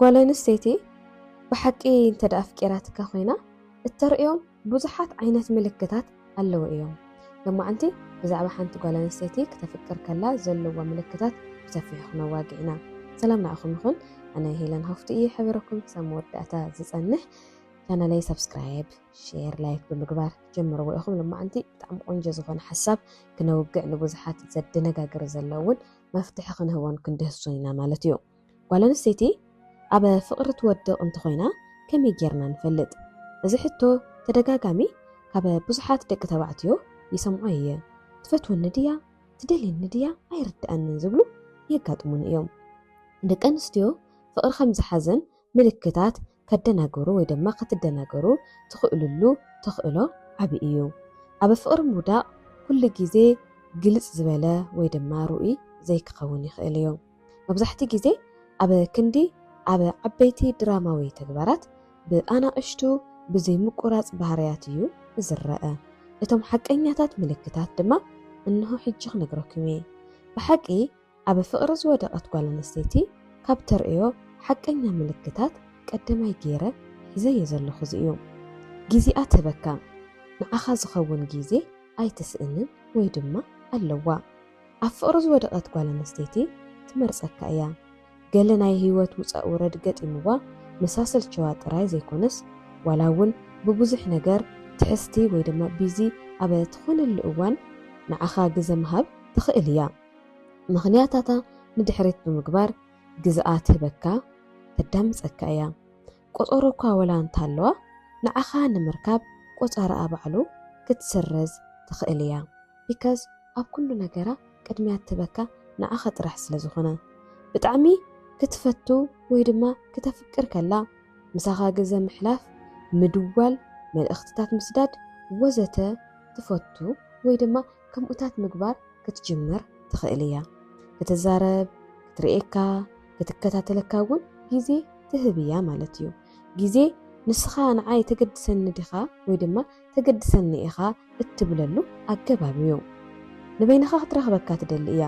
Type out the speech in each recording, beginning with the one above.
ጓል ኣንስተይቲ ብሓቂ እንተ ኣፍቂራትካ ኮይና እተርእዮም ብዙሓት ዓይነት ምልክታት ኣለዉ እዮም። ሎማዓንቲ ብዛዕባ ሓንቲ ጓል ኣንስተይቲ ክተፍቅር ከላ ዘለዋ ምልክታት ብሰፊሑ ክነዋግዕ ኢና። ሰላም ንዓኹም ይኹን ኣነ ሄለን ሃፍቱ እየ ሕብረኩም ክሳብ መወዳእታ ዝጸንሕ ቻናለይ ሰብስክራይብ ሼር ላይክ ብምግባር ጀምርዎ ኢኹም ልማዓንቲ ብጣዕሚ ቆንጆ ዝኾነ ሓሳብ ክነውግዕ ንብዙሓት ዘደነጋግር ዘለውን መፍትሒ ክንህቦን ክንድህሶ ኢና ማለት እዩ ጓል ኣንስተይቲ ኣብ ፍቕሪ ትወድቕ እንተኾይና ከመይ ጌርና ንፈልጥ? እዚ ሕቶ ተደጋጋሚ ካብ ብዙሓት ደቂ ተባዕትዮ ይሰምዖ እየ። ትፈትወኒ ድያ? ትደልየኒ ድያ? ኣይርድኣንን ዝብሉ የጋጥሙኒ እዮም። ደቂ ኣንስትዮ ፍቕሪ ከም ዝሓዘን ምልክታት ከደናግሩ ወይ ድማ ክትደናገሩ ትኽእልሉ ተኽእሎ ዓቢ እዩ። ኣብ ፍቕሪ ምውዳቕ ኩሉ ግዜ ግልጽ ዝበለ ወይ ድማ ርኡይ ዘይክኸውን ይኽእል እዩ። መብዛሕትኡ ግዜ ኣብ ክንዲ ኣብ ዓበይቲ ድራማዊ ተግባራት ብኣናእሽቱ ብዘይምቁራጽ ባህርያት እዩ ዝረኣ። እቶም ሓቀኛታት ምልክታት ድማ እንሆ ሕጂ ክነግረኩም እየ። ብሓቂ ኣብ ፍቕሪ ዝወደቐት ጓል ኣንስተይቲ ካብ ተርእዮ ሓቀኛ ምልክታት ቀደማይ ገይረ ሒዘዮ ዘለኹ እዚ እዩ። ጊዚኣ ትህበካ፣ ንዓኻ ዝኸውን ጊዜ ኣይትስእንን ወይ ድማ ኣለዋ። ኣብ ፍቕሪ ዝወደቐት ጓል ኣንስተይቲ ትመርጸካ እያ። ገለ ናይ ህይወት ውጻእ ውረድ ገጢምዋ ምሳ ሰልቸዋ ጥራይ ዘይኮነስ ዋላ እውን ብብዙሕ ነገር ትሕዝቲ ወይ ድማ ቢዚ ኣብ ትኾነሉ እዋን ንዓኻ ግዘ ምሃብ ትኽእል እያ። ምኽንያታታ ንድሕሪት ብምግባር ግዝኣ ትህበካ ተዳምጸካ እያ። ቆጸሮ እኳ ወላ እንተሃለዋ ንዓኻ ንምርካብ ቆጻራኣ ባዕሉ ክትስርዝ ትኽእል እያ። because ኣብ ኩሉ ነገራ ቅድሚያ እትህበካ ንዓኻ ጥራሕ ስለ ዝኾነ። ብጣዕሚ ክትፈቱ ወይ ድማ ክተፍቅር ከላ ምሳኻ ግዘ ምሕላፍ፣ ምድዋል፣ መልእኽትታት ምስዳድ ወዘተ ትፈቱ ወይ ድማ ከምኡታት ምግባር ክትጅምር ትኽእል እያ። ክትዛረብ፣ ክትርእየካ፣ ክትከታተለካ እውን ግዜ ትህብ እያ ማለት እዩ። ግዜ ንስኻ ንዓይ ተገድሰኒ ዲኻ ወይ ድማ ተገድሰኒ ኢኻ እትብለሉ ኣገባብ እዩ። ንበይንኻ ክትረኽበካ ትደሊ እያ።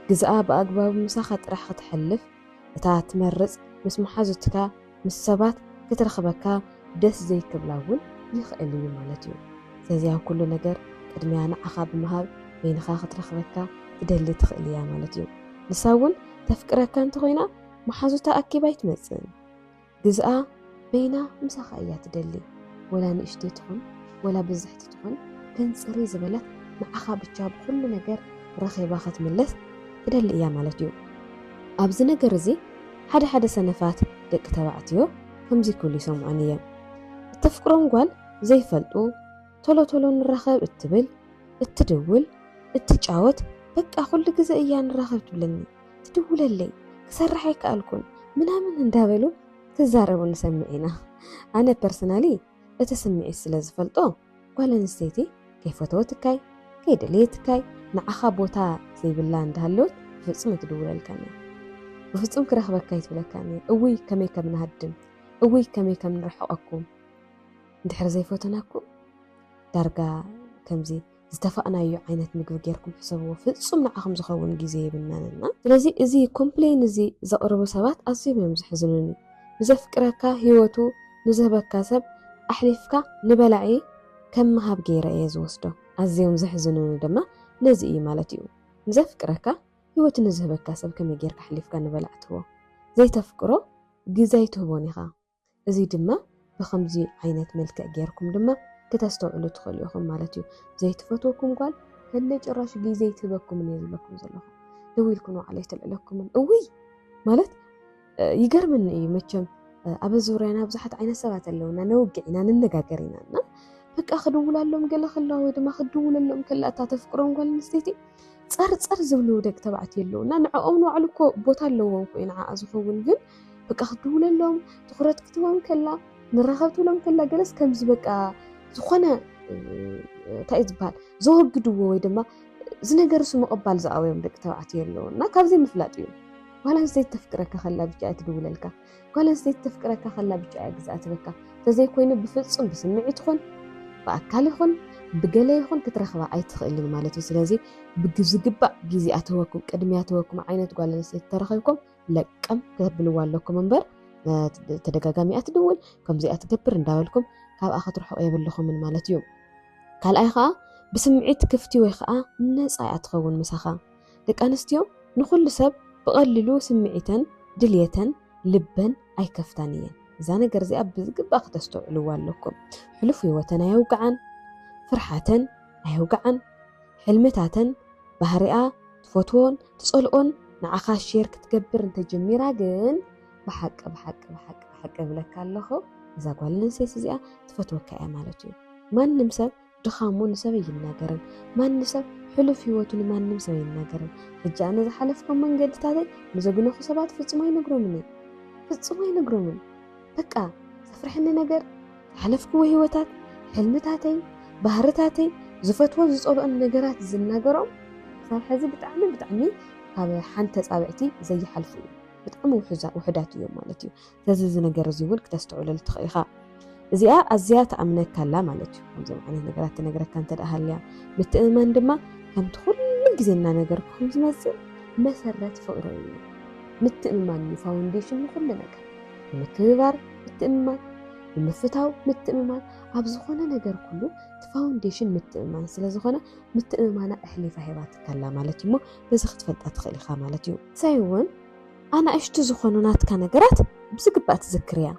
ግዝኣ ብኣግባቡ ምሳኻ ጥራሕ ክተሕልፍ እታ ትመርጽ ምስ መሓዙትካ ምስ ሰባት ክትረኽበካ ደስ ዘይክብላ እውን ይኽእል እዩ ማለት እዩ። ስለዚ ኣብ ኩሉ ነገር ቅድሚያ ንዓኻ ብምሃብ በይንኻ ክትረኽበካ ትደሊ ትኽእል እያ ማለት እዩ። ንሳ እውን ተፍቅረካ እንተኾይና መሓዙታ ኣኪባ ኣይትመጽእን። ግዝኣ በይና ምሳኻ እያ ትደሊ ወላ ንእሽተይ ትኹን ወላ ብዝሕቲ ትኹን ግን ጽርይ ዝበለት ንዓኻ ብቻ ብኹሉ ነገር ረኺባ ክትምለስ ትደሊ እያ ማለት እዩ ኣብዚ ነገር እዚ ሓደ ሓደ ሰነፋት ደቂ ተባዕትዮ ከምዚ ክብሉ ይሰምዖን እየ እተፍቅሮም ጓል ዘይፈልጡ ቶሎ ቶሎ ንራኸብ እትብል እትድውል እትጫወት በቃ ኩሉ ግዘ እያ ንራኸብ ትብለኒ ትድውለለይ ክሰርሕ ኣይከኣልኩን ምናምን እንዳበሉ ክዛረቡ ንሰምዕ ኢና ኣነ ፐርሰናሊ እቲ ስምዒት ስለ ዝፈልጦ ጓል ኣንስተይቲ ከይፈተወትካይ ከይደለየትካይ ንዓኻ ቦታ ዘይብላ እንዳሃለወት ብፍፁም ኣይትድውለልካን እያ ብፍፁም ክረኽበካ ኣይትብለካን እያ እውይ ከመይ ከም ንሃድም እውይ ከመይ ከም ንርሕቐኩም እንድሕር ዘይፈተናኩም ዳርጋ ከምዚ ዝተፋእናዮ ዓይነት ምግቢ ጌርኩም ሕሰብዎ ፍጹም ንዓኹም ዝኸውን ግዜ የብልናን እና ስለዚ እዚ ኮምፕሌን እዚ ዘቕርቡ ሰባት ኣዝዮም እዮም ዝሕዝኑኒ ንዘፍቅረካ ሂወቱ ንዝህበካ ሰብ ኣሕሊፍካ ንበላዒ ከም ምሃብ ጌረ እየ ዝወስዶ ኣዝዮም ዘሕዝኑኒ ድማ ነዚ እዩ ማለት እዩ ንዘፍቅረካ ሂወቱ ንዝህበካ ሰብ ከመይ ጌርካ ኣሕሊፍካ ንበላዕ ትህቦ ዘይተፍቅሮ ግዘ ኣይትህቦን ኢኻ እዚ ድማ ብኸምዚ ዓይነት መልክዕ ጌርኩም ድማ ክተስተውዕሉ ትኽእሉ ኢኹም ማለት እዩ። ዘይትፈትወኩም ጓል ከለ ጭራሽ ግዜ ትህበኩምን እየ ዝብለኩም ዘለኹ። ደው ኢልኩም ንባዕሉ ኣይተልዕለኩምን። እውይ ማለት ይገርምኒ እዩ መቸም ኣብ ዙርያና ብዙሓት ዓይነት ሰባት ኣለውና ነውግዕ ኢና ንነጋገር ኢና እና በቃ ክድውላሎም ገለ ከላ ወይ ድማ ክድውለሎም ከላ እታ ተፍቅሮም ጓል ኣንስተይቲ ፀርፀር ዝብሉ ደቂ ተባዕትዮ ኣለውና ንዕኦም ንባዕሉ እኮ ቦታ ኣለዎም ኮዩ ንዓኣ ዝኸውን ግን በቃ ክትድውለሎም ትኩረት ክትህቦም ከላ ንራኸብ ትብሎም ከላ ገለስ ከምዚ በቃ ዝኾነ እንታይ እዩ ዝበሃል ዘወግድዎ ወይ ድማ እዚ ነገር እሱ ምቕባል ዝኣበዮም ደቂ ተባዕትዮ ኣለዉ እና ካብዘይ ምፍላጥ እዩ ጓል ኣንስተይቲ ተፍቅረካ ከላ ብቻ እያ ትድውለልካ ጓል ኣንስተይቲ ተፍቅረካ ከላ ብቻ እያ ግዛእ ትበካ እንተዘይኮይኑ ብፍፁም ብስምዒት ይኹን ብኣካል ይኹን ብገለ ይኹን ክትረኽባ ኣይትኽእልን ማለት እዩ ስለዚ ብዝግባእ ግዜ ኣተወኩም ቅድሚ ኣተወኩም ዓይነት ጓል ኣንስተይቲ ተረኺብኩም ለቀም ከተብልዋ ኣለኩም እምበር ተደጋጋሚ እያ ትድውል ከምዚኣ ትገብር እንዳበልኩም ካብኣ ክትርሕቑ የብልኹምን ማለት እዩ ካልኣይ ከዓ ብስምዒት ክፍቲ ወይ ከዓ ነፃ እያ ትኸውን ምሳኻ ደቂ ኣንስትዮ ንኩሉ ሰብ ብቐሊሉ ስምዒተን ድልየተን ልበን ኣይከፍታን እየን እዛ ነገር እዚኣ ብዝግባእ ክተስተውዕልዋ ኣለኩም ሕሉፍ ህይወተን ኣየውግዓን ፍርሓተን ኣየውግዓን ሕልምታተን ባህሪኣ ትፈትዎን ትጸልኦን ንዓኻ ሼር ክትገብር እንተጀሚራ ግን ብሓቂ ብሓቂ ብሓቂ ብሓቂ እብለካ ኣለኹ እዛ ጓል ኣንስተይቲ እዚኣ ትፈትወካ እያ ማለት እዩ ማንም ሰብ ድኻሙ ንሰብ ኣይናገርን ማንም ሰብ ሕሉፍ ህይወቱ ንማንም ሰብ ኣይናገርን ሕጂ ኣነ ዝሓለፍኩም መንገድታተይ ንዘግነኹ ሰባት ፍጹም ኣይነግሮምን እየ ፍጹም ኣይነግሮምን በቃ ዘፍርሐኒ ነገር ዝሓለፍክዎ ህይወታት ሕልምታተይ ባህርታተይ ዝፈትዎን ዝፀልኦን ነገራት ዝናገሮም ክሳብ ሕዚ ብጣዕሚ ብጣዕሚ ካብ ሓንቲ ተፃብዕቲ ዘይሓልፉ እዩ ብጣዕሚ ውሕዳት እዮም ማለት እዩ ስለዚ እዚ ነገር እዚ እውን ክተስተውዕለሉ ትኽእል ኢኻ እዚኣ ኣዝያ ተኣምነካ ኣላ ማለት እዩ ከምዚኦም ዓይነት ነገራት ትነግረካ እንተ ሃልያ ምትእምማን ድማ ከምቲ ኩሉ ግዜ እናነገርኩም ዝመፅእ መሰረት ፍቕሪ እዩ ምትእምማን እዩ ፋውንዴሽን ንኩሉ ነገር ንምክብባር ምትእምማን፣ ንምፍታው ምትእምማን፣ ኣብ ዝኾነ ነገር ኩሉ እቲ ፋውንዴሽን ምትእምማን ስለ ዝኾነ ምትእምማና ኣሕሊፋ ሂባትካ ኣላ ማለት እዩ እሞ በዚ ክትፈልጣ ትኽእል ኢኻ ማለት እዩ። ንሳይ እውን ኣናእሽቱ ዝኾኑ ናትካ ነገራት ብዝግባእ ትዝክር እያ።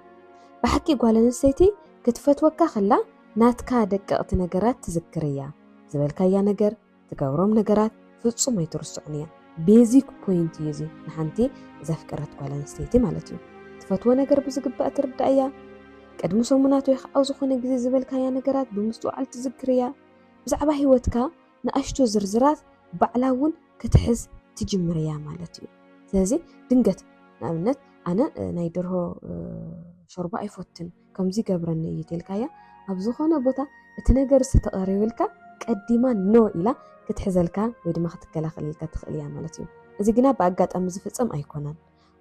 ብሓቂ ጓል ኣንስተይቲ ክትፈትወካ ከላ ናትካ ደቀቕቲ ነገራት ትዝክር እያ። ዝበልካያ ነገር፣ ትገብሮም ነገራት ፍጹም ኣይትርስዑን እያ ቤዚክ ፖይንት እዩ እዚ ንሓንቲ ዘፍቀረት ጓል ኣንስተይቲ ማለት እዩ ትፈትዎ ነገር ብዝግባእ ትርዳእ እያ ቅድሚ ሰሙናት ወይ ከዓ ዝኾነ ግዜ ዝበልካያ ነገራት ብምስትውዓል ትዝክር እያ ብዛዕባ ሂወትካ ንኣሽቱ ዝርዝራት ባዕላ እውን ክትሕዝ ትጅምር እያ ማለት እዩ ስለዚ ድንገት ንኣብነት ኣነ ናይ ደርሆ ሾርባ ኣይፎትን ከምዚ ይገብረኒ እዩ ተልካያ ኣብ ዝኾነ ቦታ እቲ ነገር ዝተቐሪብልካ ቀዲማ ኖ ኢላ ክትሕዘልካ ወይ ድማ ክትከላኸለልካ ትኽእል እያ ማለት እዩ እዚ ግና ብኣጋጣሚ ዝፍፀም ኣይኮነን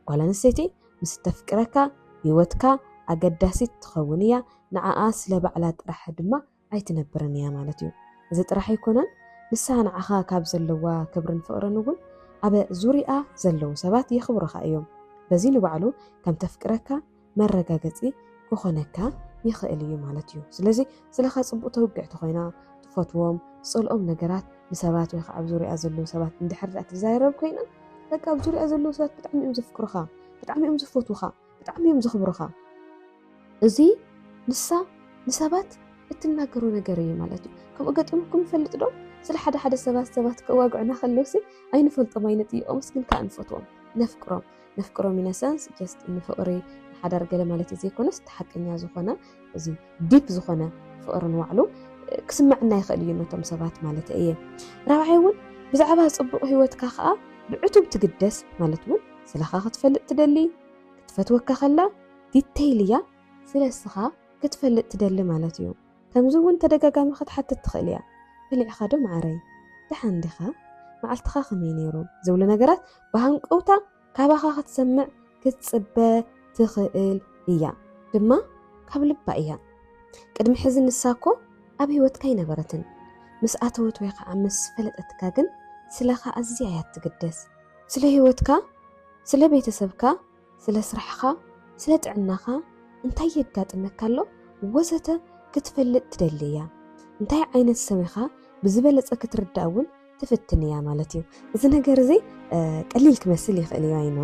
ጓል ኣንስተይቲ ምስ እተፍቅረካ ህይወትካ ኣገዳሲት ትኸውን እያ ንዓኣ ስለ ባዕላ ጥራሕ ድማ ኣይትነብርን እያ ማለት እዩ። እዚ ጥራሕ ኣይኮነን ንሳ ንዓኻ ካብ ዘለዋ ክብርን ፍቕርን እውን ኣብ ዙርይኣ ዘለዉ ሰባት የኽብሩኻ እዮም። በዚ ንባዕሉ ከም ተፍቅረካ መረጋገጺ ክኾነካ ይኽእል እዩ ማለት እዩ። ስለዚ ስለኻ ጽቡቕ ተውግዕ ተኾይና ትፈትዎም ትጸልኦም ነገራት ንሰባት ወይ ከዓ ኣብ ዙርያ ዘለዉ ሰባት እንድሕር ትዛረብ ኮይና በቃ ኣብ ዙርያ ዘለዉ ሰባት ብጣዕሚ እዮም ዘፍቅሩኻ ብጣዕሚ እዮም ዝፈትዉኻ ብጣዕሚ እዮም ዘኽብሩኻ እዚ ንሳ ንሰባት እትናገሮ ነገር እዩ ማለት እዩ ከምኡ ገጢሙኩም ይፈልጥ ዶ ስለ ሓደ ሓደ ሰባት ሰባት ከዋግዑና ከለውሲ ኣይንፈልጦም ኣይንጥይቆምስ ግን ከዓ ንፈትዎም ነፍቅሮም ነፍቅሮም ኢነሰንስ ጀስት ንፍቅሪ ንሓዳር ገለ ማለት እዩ ዘይኮነስ እቲ ሓቀኛ ዝኾነ እዚ ዲፕ ዝኾነ ፍቕሪ ንባዕሉ ክስመዐና ይኽእል እዩ ነቶም ሰባት ማለት እየ። ራብዓይ እውን ብዛዕባ ጽቡቕ ህይወትካ ከዓ ብዕቱብ ትግደስ ማለት እውን ስለኻ ክትፈልጥ ትደሊ ክትፈትወካ ከላ ዲተይል እያ ስለ እስኻ ክትፈልጥ ትደሊ ማለት እዩ። ከምዚ እውን ተደጋጋሚ ክትሓትት ትኽእል እያ በሊዕኻ ዶ መዓረይ ደሓን ዲኻ መዓልትኻ ከመይ ነይሩ ዝብሉ ነገራት ብሃንቀውታ ካባኻ ክትሰምዕ ክትጽበ ትኽእል እያ ድማ ካብ ልባ እያ ቅድሚ ሕዚ ንሳ እኮ ኣብ ህይወትካ ኣይነበረትን ምስ ኣተወት ወይ ከዓ ምስ ፈለጠትካ ግን ስለኻ ኣዝያ እያ ትግደስ ስለ ህይወትካ ስለ ቤተሰብካ ስለ ስራሕኻ ስለ ጥዕናኻ እንታይ የጋጥመካ ኣሎ ወዘተ ክትፈልጥ ትደሊ እያ እንታይ ዓይነት ሰብ ኢኻ ብዝበለፀ ክትርዳእ እውን ትፍትን እያ ማለት እዩ እዚ ነገር እዚ ቀሊል ክመስል ይኽእል እዩ ኣይኖ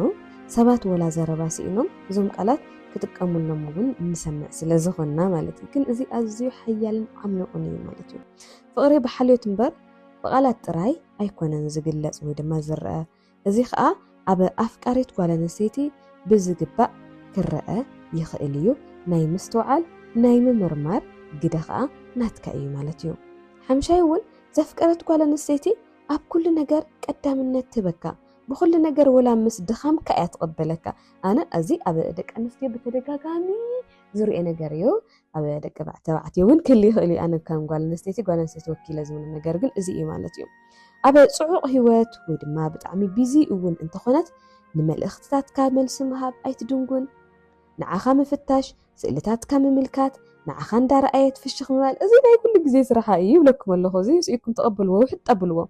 ሰባት ወላ ዘረባ ስኢኖም እዞም ቃላት ክጥቀሙሎም እውን እንሰምዕ ስለ ዝኾንና ማለት እዩ ግን እዚ ኣዝዩ ሓያልን ዓሚቑን እዩ ማለት እዩ ፍቕሪ ብሓልዮት እምበር ብቓላት ጥራይ ኣይኮነን ዝግለጽ ወይ ድማ ዝረአ እዚ ኸኣ ኣብ ኣፍቃሪት ጓል ኣንስተይቲ ብዝግባእ ክረኣ ይኽእል እዩ፣ ናይ ምስትውዓል ናይ ምምርማር ግደ ኸኣ ናትካ እዩ ማለት እዩ። ሓምሻይ እውን ዘፍቀረት ጓል ኣንስተይቲ ኣብ ኩሉ ነገር ቀዳምነት ትህበካ፣ ብኹሉ ነገር ወላ ምስ ድኻምካ እያ ትቕበለካ፣ ኣነ እዚ ኣብ ደቂ ኣንስትዮ ብተደጋጋሚ ዝርኦ ነገር እዩ፣ ኣብ ደቂ ተባዕትዮ እውን ክል ይኽእል እዩ ኣነ ከም ጓል ኣንስተይቲ ጓል ኣንስተይቲ ወኪለ ዝብሉ ነገር ግን እዚ እዩ ማለት እዩ ኣብ ፅዑቕ ህይወት ወይ ድማ ብጣዕሚ ቢዚ እውን እንተኾነት ንመልእኽትታትካ መልሲ ምሃብ ኣይትድንጉን ንዓኻ ምፍታሽ ስእልታትካ ምምልካት ንዓኻ እንዳረኣየት ፍሽኽ ምባል እዚ ናይ ኩሉ ግዜ ስራሓ እዩ ይብለኩም ኣለኹ እዚ ስኢኩም ተቐብልዎ ውሕጥ ኣብልዎ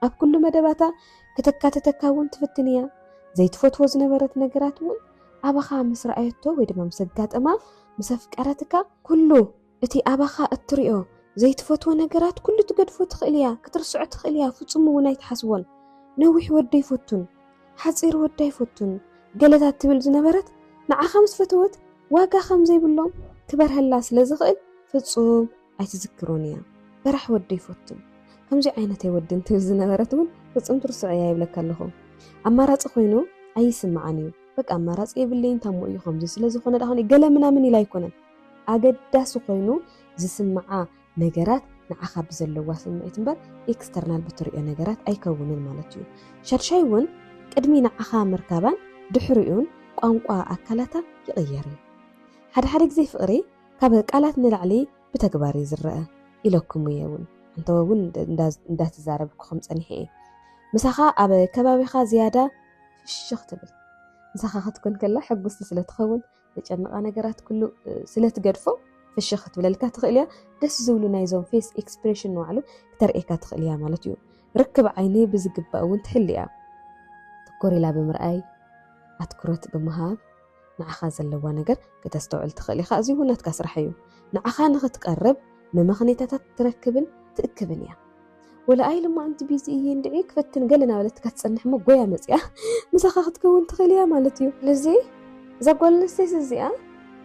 ኣብ ኩሉ መደባታ ክተካትተካ እውን ትፍትን እያ። ዘይትፈትዎ ዝነበረት ነገራት እውን ኣባኻ ምስ ረኣየቶ ወይ ድማ ምስ ኣጋጠማ ምስ ኣፍቀረትካ ኩሉ እቲ ኣባኻ እትሪኦ ዘይትፈትዎ ነገራት ኩሉ ትገድፎ ትኽእል እያ፣ ክትርስዖ ትኽእል እያ፣ ፍጹም እውን ኣይትሓስቦን። ነዊሕ ወዲ ኣይፈቱን፣ ሓጺር ወዲ ኣይፈቱን ገለታት ትብል ዝነበረት ንዓኻ ምስ ፈተወት ዋጋ ከም ዘይብሎም ክበርሀላ ስለ ዝኽእል ፍጹም ኣይትዝክሮን እያ በራሕ ወዲ ኣይፈቱን ከምዚ ዓይነት ኣይወድን ትብል ዝነበረት እውን ፍፁም ትርስዖ እያ ይብለካ ኣለኹ ኣማራፂ ኮይኑ ኣይስምዓን እዩ በቃ ኣማራፂ የብለይን ታሞ እዩ ከምዚ ስለዝኾነ ዳኾነ ገለ ምናምን ኢላ ኣይኮነን ኣገዳሲ ኮይኑ ዝስምዓ ነገራት ንዓኻ ብዘለዋ ስምዒት እምበር ኤክስተርናል ብትሪኦ ነገራት ኣይከውንን ማለት እዩ ሻድሻይ እውን ቅድሚ ንዓኻ ምርካባን ድሕሪኡን ቋንቋ ኣካላታ ይቕየር እዩ ሓደ ሓደ ግዜ ፍቕሪ ካብ ቃላት ንላዕሊ ብተግባር እዩ ዝረኣ ኢለኩም እየ እውን ኣንተወ እውን እንዳተዛረብኩኹም ፀኒሐ እየ ምሳኻ ኣብ ከባቢኻ ዝያዳ ፍሽኽ ትብል ምሳኻ ክትኮን ከላ ሕጉስቲ ስለ ትኸውን ዘጨንቓ ነገራት ኩሉ ስለ ትገድፎ ፍሽኽ ክትብለልካ ትኽእል እያ ደስ ዝብሉ ናይዞም ፌስ ኤክስፕሬሽን ንባዕሉ ክተርእየካ ትኽእል እያ ማለት እዩ ርክብ ዓይኒ ብዝግባእ እውን ትሕሊ እያ ትኮር ኢላ ብምርኣይ ኣትኩረት ብምሃብ ንዓኻ ዘለዋ ነገር ክተስተውዕል ትኽእል ኢኻ። እዚ እውን ናትካ ስራሕ እዩ። ንዓኻ ንኽትቀርብ መመኽነይታታት ትረክብን ትእክብን እያ። ወላ ኣይ ልማዓንቲ ቢዚ እየ እንድዒ ክፈትን ገለ እናበለትካ ትጸንሕ እሞ ጎያ መጺኣ ምሳኻ ክትከውን ትኽእል እያ ማለት እዩ። ስለዚ እዛ ጓል ኣንስተይቲ እዚኣ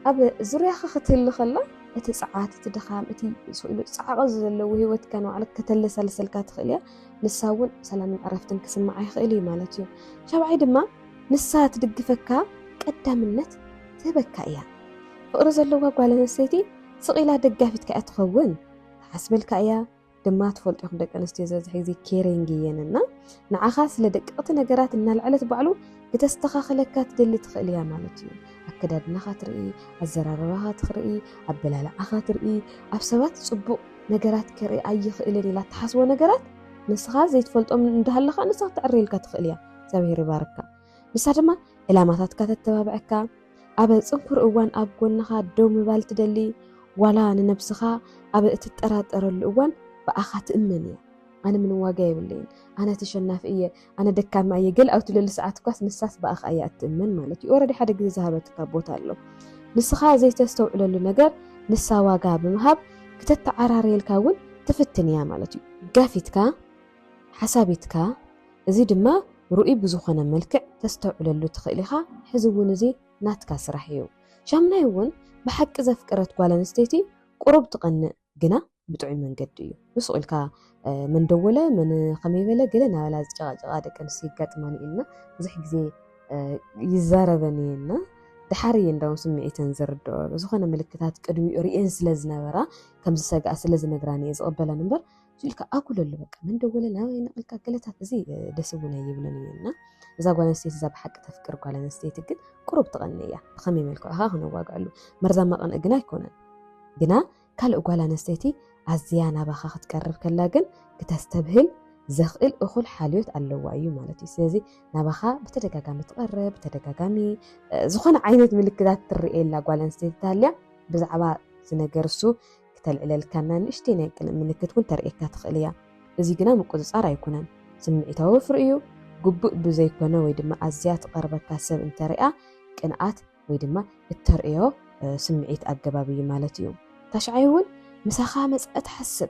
ኣብ ዙርያኻ ክትህሉ ከላ እቲ ጸዓት እቲ ድኻም እቲ ስኢሉ ጻዕቂ ዘለዎ ህይወትካ ንባዕሉ ከተለሳልሰልካ ትኽእል እያ። ንሳ እውን ሰላምን ዕረፍትን ክስምዓ ይኽእል እዩ ማለት እዩ። ሻብዓይ ድማ ንሳ ትድግፈካ ቀዳምነት ትህበካ እያ ፍቅሪ ዘለዋ ጓል ኣንስተይቲ ስቅ ኢላ ደጋፊትካ እያ ትኸውን ትሓስበልካ እያ ድማ ትፈልጡ ኢኹም ደቂ ኣንስትዮ ዝበዝሕ ግዜ ኬሪንግ እየን እና ንዓኻ ስለ ደቀቕቲ ነገራት እናልዐለት ባዕሉ ክተስተኻኽለካ ትደሊ ትኽእል እያ ማለት እዩ ኣከዳድናኻ ትርኢ ኣዘራርባኻ ትርኢ ኣበላልዓኻ ትርኢ ኣብ ሰባት ፅቡቕ ነገራት ክርኢ ኣይኽእልን ኢላ ትሓስቦ ነገራት ንስኻ ዘይትፈልጦም እንዳሃለኻ ንስኻ ክትዕርየልካ ትኽእል እያ እግዚኣብሔር ይባርካ ንሳ ድማ ዕላማታትካ ተተባብዐካ ኣብ ፅንኩር እዋን ኣብ ጎንኻ ደው ምባል ትደሊ ዋላ ንነብስኻ ኣብ እትጠራጠረሉ እዋን ብኣኻ ትእመን እያ ኣነ ምንም ዋጋ የብለይን ኣነ ተሸናፊ እየ ኣነ ደካማ እየ ገል ኣብ ትብለሉ ሰዓት እኳስ ንሳስ ብኣኻ እያ እትእመን ማለት እዩ ኦረዲ ሓደ ግዜ ዝሃበትካ ቦታ ኣሎ ንስኻ ዘይተስተውዕለሉ ነገር ንሳ ዋጋ ብምሃብ ክተተዓራርየልካ እውን ትፍትን እያ ማለት እዩ ጋፊትካ ሓሳቢትካ እዚ ድማ ርኡይ ብዝኾነ መልክዕ ተስተውዕለሉ ትኽእል ኢኻ ሕዚ እውን እዚ ናትካ ስራሕ እዩ። ሻሙናይ እውን ብሓቂ ዘፍቀረት ጓል ኣንስተይቲ ቁሩብ ትቐንእ ግና ብጥዑይ መንገዲ እዩ። ንሱቕ ኢልካ መን ደወለ መን ከመይ በለ ገለ ናበላ ዝጨቓጨቓ ደቂ ኣንስትዮ የጋጥማን እየን ብዙሕ ግዜ ይዛረበን እየን ድሓር እየ እንዳውን ስምዒተን ዝርድኦ ዝኾነ ምልክታት ቅድሚኡ ርእየን ስለ ዝነበራ ከም ዝሰግኣ ስለ ዝነግራን እየ ዝቕበለን እምበር ኢልካ ኣጉለሉ በቃ መን ደወለ ናበይ ነቕልካ ገለታት እዚ ደስ እውን ኣይብለን እዩ እና እዛ ጓል ኣንስተይቲ እዛ ብሓቂ ተፍቅር ጓል ኣንስተይቲ ግን ቁሩብ ትቐኒ እያ ብኸመይ መልክዑ ኸ ክነዋግዐሉ መርዛማ ቐንዒ ግና ኣይኮነን ግና ካልእ ጓል ኣንስተይቲ ኣዝያ ናባኻ ክትቀርብ ከላ ግን ክተስተብህል ዘኽእል እኹል ሓልዮት ኣለዋ እዩ ማለት እዩ ስለዚ ናባኻ ብተደጋጋሚ ትቐርብ ብተደጋጋሚ ዝኾነ ዓይነት ምልክታት ትርእየላ ጓል ኣንስተይቲ ታልያ ብዛዕባ ዝነገር እሱ ክተልዕለልካና ንእሽተይ ናይ ቅንእ ምልክት እውን ተርእየካ ትኽእል እያ። እዚ ግና ምቁጽጻር ኣይኩነን። ስምዒታዊ ወፍሪ እዩ። ግቡእ ብዘይኮነ ወይ ድማ ኣዝያ ትቐርበካ ሰብ እንተሪኣ ቅንኣት ወይ ድማ እተርእዮ ስምዒት ኣገባብ እዩ ማለት እዩ። ታሽዓይ እውን ምሳኻ መጸኣ ትሓስብ።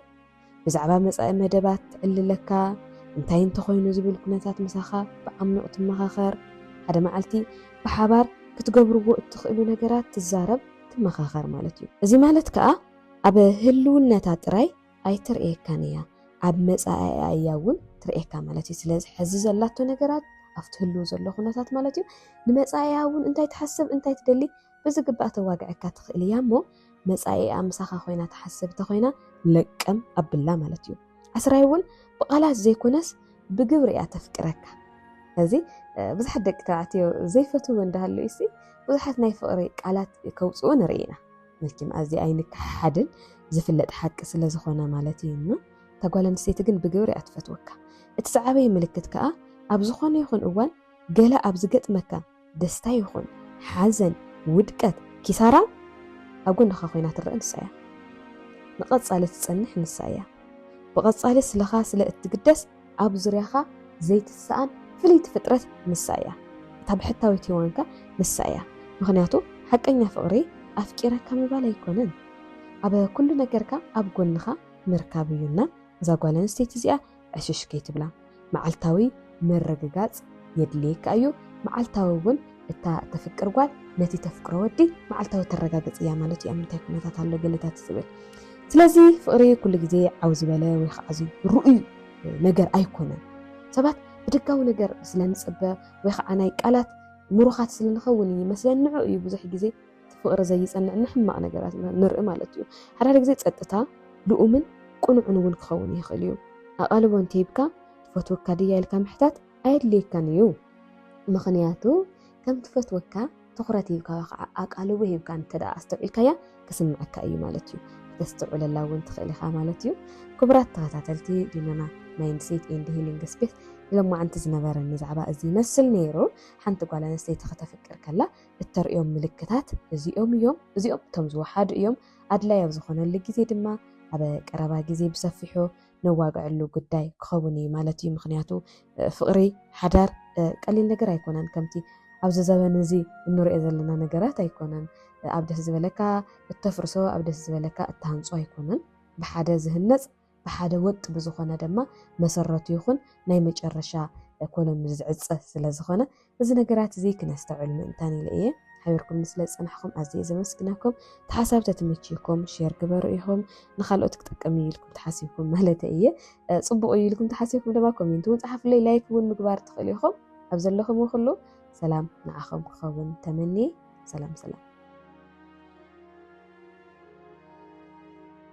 ብዛዕባ መጻኢ መደባት ትዕልለካ፣ እንታይ እንተኾይኑ ዝብል ኩነታት ምሳኻ ብዓሚቕ ትመኻኸር፣ ሓደ መዓልቲ ብሓባር ክትገብርዎ እትኽእሉ ነገራት ትዛረብ፣ ትመኻኸር ማለት እዩ። እዚ ማለት ከኣ ኣብ ህልውነታ ጥራይ ኣይትርእየካን እያ፣ ኣብ መጻኢኣ እያ እውን ትርእየካ ማለት እዩ። ስለዚ ሕዚ ዘላቶ ነገራት ኣብቲ ህልው ዘሎ ኩነታት ማለት እዩ፣ ንመጻኢኣ እውን እንታይ ትሓስብ እንታይ ትደሊ ብዝግባእ ተዋግዐካ ትኽእል እያ እሞ መጻኢኣ ምሳኻ ኮይና ትሓስብ እንተኾይና ለቀም ኣብላ ማለት እዩ። ዓስራይ እውን ብቓላት ዘይኮነስ ብግብሪ እያ ተፍቅረካ። እዚ ብዙሓት ደቂ ተባዕትዮ ዘይፈትው እንዳሃለዩ ሲ ብዙሓት ናይ ፍቕሪ ቃላት ከውፅኡ ንርኢ ኢና መቸም ኣዚ ኣይንከሓድን ዝፍለጥ ሓቂ ስለ ዝኾነ ማለት እዩ እዩና ተጓል ኣንስተይቲ ግን ብግብሪ እያ ትፈትወካ እቲ ዝዓበየ ምልክት ከዓ ኣብ ዝኾነ ይኹን እዋን ገላ ኣብ ዝገጥመካ ደስታ ይኹን ሓዘን፣ ውድቀት፣ ኪሳራ ኣብ ጎንኻ ኮይና ትረኣ ንሳ እያ። ንቐጻሊ ትጸንሕ ንሳ እያ። ብቐጻሊ ስለኻ ስለ እትግደስ ኣብ ዙርያኻ ዘይትሰኣን ፍልይቲ ፍጥረት ንሳ እያ። እታ ብሕታዊት ሄዋንከ ንሳ እያ። ምኽንያቱ ሓቀኛ ፍቕሪ ኣፍቂረካ ምባል ኣይኮነን። ኣብ ኩሉ ነገርካ ኣብ ጎንኻ ምርካብ እዩ እና እዛ ጓል ኣንስተይቲ እዚኣ ዕሽሽ ከይትብላ መዓልታዊ ምርግጋጽ የድልየካ እዩ፣ መዓልታዊ እውን እታ ተፍቅር ጓል ነቲ ተፍቅሮ ወዲ መዓልታዊ ተረጋግጽ እያ ማለት እዩ ኣብ ምንታይ ኩነታት ኣሎ ገለታት ዝብል ስለዚ ፍቕሪ ኩሉ ግዜ ዓው ዝበለ ወይ ከዓ ርኡይ ነገር ኣይኮነን ሰባት ብደጋዊ ነገር ስለ ንፅበ ወይ ከዓ ናይ ቃላት ምሩኻት ስለ ንኸውን እዩ መስለን ንዑ እዩ ብዙሕ ግዜ እቲ ፍቕሪ ዘይጸንዕ ንሕማቕ ነገራት ኢና ንርኢ ማለት እዩ። ሓድሓደ ግዜ ጸጥታ ልኡምን ቅኑዕን እውን ክኸውን ይኽእል እዩ። ኣቓልቦ እንተሂብካ ትፈትወካ ድያ ኢልካ ምሕታት ኣየድልየካን እዩ። ምኽንያቱ ከም ትፈትወካ ትኹረት ሂብካ ወይ ከዓ ኣቓልቦ ሂብካ እንተደኣ ኣስተውዒልካያ ክስምዓካ እዩ ማለት እዩ። ክተስተውዕለላ እውን ትኽእል ኢኻ ማለት እዩ። ክቡራት ተኸታተልቲ ዲናና ማይንድሴት ኤንድ ሂሊንግ ስፔስ ንሎማዓንቲ ዝነበረኒ ዛዕባ እዚ ይመስል ነይሩ። ሓንቲ ጓል ኣንስተይቲ ከተፍቅር ከላ እተርእዮም ምልክታት እዚኦም እዮም። እዚኦም እቶም ዝወሓዱ እዮም። ኣድላይ ኣብ ዝኾነሉ ግዜ ድማ ኣብ ቀረባ ግዜ ብሰፊሑ ነዋግዐሉ ጉዳይ ክኸውን እዩ ማለት እዩ። ምክንያቱ ፍቕሪ ሓዳር ቀሊል ነገር ኣይኮነን። ከምቲ ኣብዚ ዘበን እዚ እንሪኦ ዘለና ነገራት ኣይኮነን። ኣብ ደስ ዝበለካ እተፍርሶ ኣብ ደስ ዝበለካ እትሃንጾ ኣይኮነን። ብሓደ ዝህነጽ ብሓደ ወጥ ብዝኾነ ደማ መሰረቱ ይኹን ናይ መጨረሻ ኮሎኑ ዝዕጸ ስለዝኾነ እዚ ነገራት እዚ ክነስተውዕል ምእንታን ኢለ እየ። ሓቢርኩምኒ ስለ ዝጸናሕኩም ኣዝየ ዘመስግነኩም። እቲ ሓሳብ ተትምችዩኩም ሼር ግበሩ ኢኹም ንኻልኦት ክጠቅም እዩ ኢልኩም ተሓሲብኩም ማለተ እየ። ጽቡቕ እዩ ኢልኩም ተሓሲብኩም ድማ ኮሜንት እውን ጸሓፉለይ ላይክ እውን ምግባር ትኽእሉ ኢኹም። ኣብ ዘለኹም ኩሉ ሰላም ንዓኹም ክኸውን ተመንየ። ሰላም ሰላም።